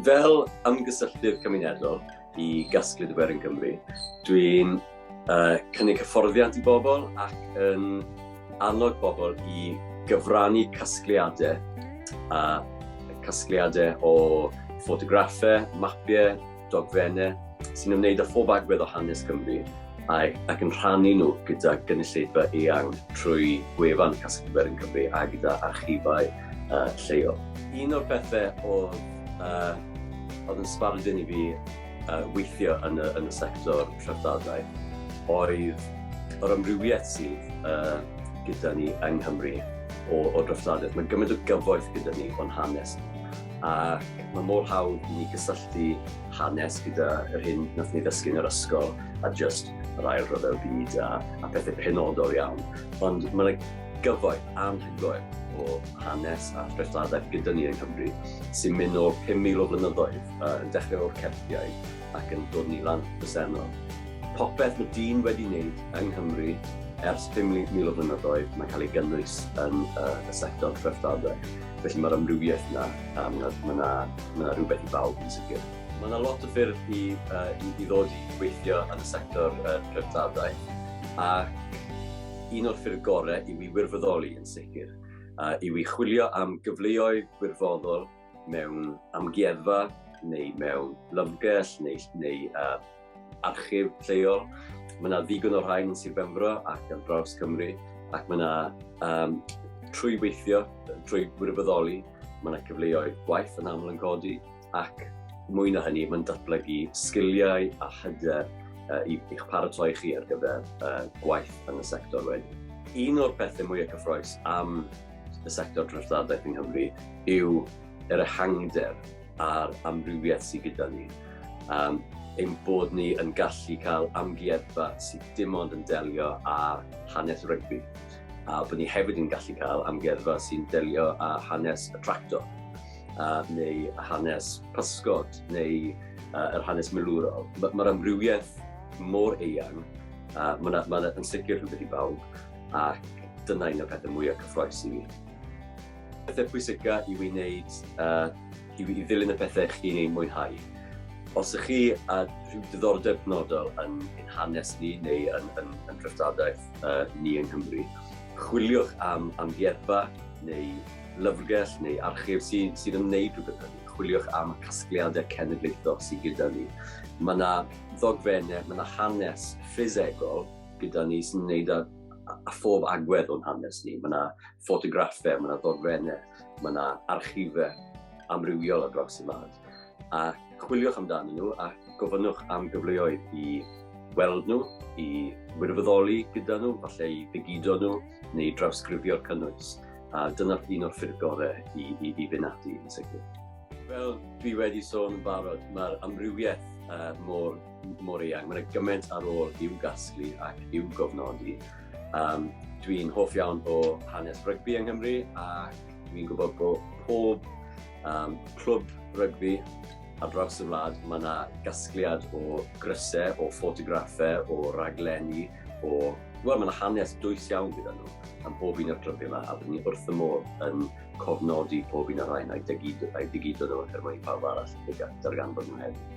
Fel ymgysylltydd cymunedol i Gasglyd Wer yn Cymru, dwi'n uh, cynnig hyfforddiant i bobl ac yn annog bobl i gyfrannu casgliadau a casgliadau o ffotograffau, mapiau, dogfennau sy'n ymwneud â phob agwedd o hanes Cymru ac, ac yn rhannu nhw gyda gynulleidfa eang trwy gwefan Casglu Gwerin Cymru a gyda archifau uh, lleol. Un o'r pethau oedd, uh, oedd yn sbardun i fi uh, weithio yn y, yn y sector rhyfddadau oedd yr amrywiaeth sydd uh, gyda ni yng Nghymru o, o droftadaeth. Mae gymaint o gyfoeth gyda ni o'n hanes. ac mae mor hawdd i ni gysylltu hanes gyda yr hyn nath ni ddysgu yn yr ysgol a just yr ail rhyfel byd a, a pethau penodol iawn. Ond mae yna gyfoeth anhygoel o hanes a threftadaeth gyda ni yng Nghymru sy'n mynd o 5,000 o flynyddoedd uh, yn dechrau o'r Celtiaid ac yn dod ni lan presennol. Popeth mae dyn wedi wneud yng Nghymru ers 5,000 o flynyddoedd mae'n cael ei gynnwys yn uh, y sector threftadaeth. Felly mae'r amrywiaeth yna, a mae yna, mae yna, mae yna rhywbeth i bawb yn sicr. Mae yna lot o ffyrdd i, uh, i, i ddod i weithio yn y sector uh, treftadau, ac un o'r ffyrdd gorau i wi wirfoddoli yn sicr, uh, i wi chwilio am gyfleoedd wirfoddol mewn amgueddfa neu mewn lyfrgell neu, neu uh, archif lleol. Mae yna ddigon o rhain yn Sir Benfro ac ar draws Cymru, ac mae yna, um, trwy weithio, trwy wirfoddoli, mae yna cyfleoedd gwaith yn aml yn codi, ac mwy na hynny, mae'n datblygu sgiliau a hyder uh, i'ch paratoi chi ar gyfer uh, gwaith yn y sector wedyn. Un o'r pethau mwyaf cyffroes am y sector drwy'r ddadaeth yng Nghymru yw yr ehangder a'r amrywiaeth sydd gyda ni. Um, ein bod ni yn gallu cael amgueddfa sydd dim ond yn delio â hanes rygbi. A bod ni hefyd yn gallu cael amgueddfa sy'n delio â hanes y tractor, uh, neu hanes pysgod, neu uh, yr hanes milwrol. Mae'r ma amrywiaeth mor eang, uh, mae'n ma, yn sicr rhywbeth i bawb, ac dyna un o'r pethau mwyaf cyffroes i mi. Pethau pwysica i fi wneud, uh, i, i ddilyn y pethau chi'n ei mwynhau. Os ych chi a rhyw diddordeb penodol yn ein hanes ni neu yn, yn, yn dreftadaeth uh, ni yng Nghymru, chwiliwch am amgueddfa neu lyfrgell neu archif sydd, sydd yn wneud rhywbeth hynny. Chwiliwch am casgliadau cenedlaethol sydd gyda ni. Mae yna ddogfennau, mae yna hanes ffisegol gyda ni sy'n wneud â, â phob agwedd o'n hanes ni. Mae yna ffotograffau, mae yna ddogfennau, mae yna archifau amrywiol ar draws y wlad. A chwiliwch amdanyn nhw a gofynnwch am gyfleoedd i weld nhw, i wirfoddoli gyda nhw, falle i ddigido nhw neu drawsgrifio'r cynnwys. A dyna un o'r ffyrdd gorau i, i, i fynd ati yn sicr. Fel dwi wedi sôn yn barod, mae'r amrywiaeth uh, mor, mor eang. Mae'n gymaint ar ôl i'w gasglu ac i'w gofnodi. Um, dwi'n hoff iawn o hanes rygbi yng Nghymru ac dwi'n gwybod bod pob um, clwb rygbi ar draws y wlad mae yna gasgliad o grysau, o ffotograffau, o raglenni, o... Wel, mae yna hanes dwys iawn gyda nhw am pob un o'r clybiau yma, a byddwn ni wrth y modd yn cofnodi pob un o'r rhain a'i digidod nhw er mwyn i pawb arall darganfod nhw hefyd.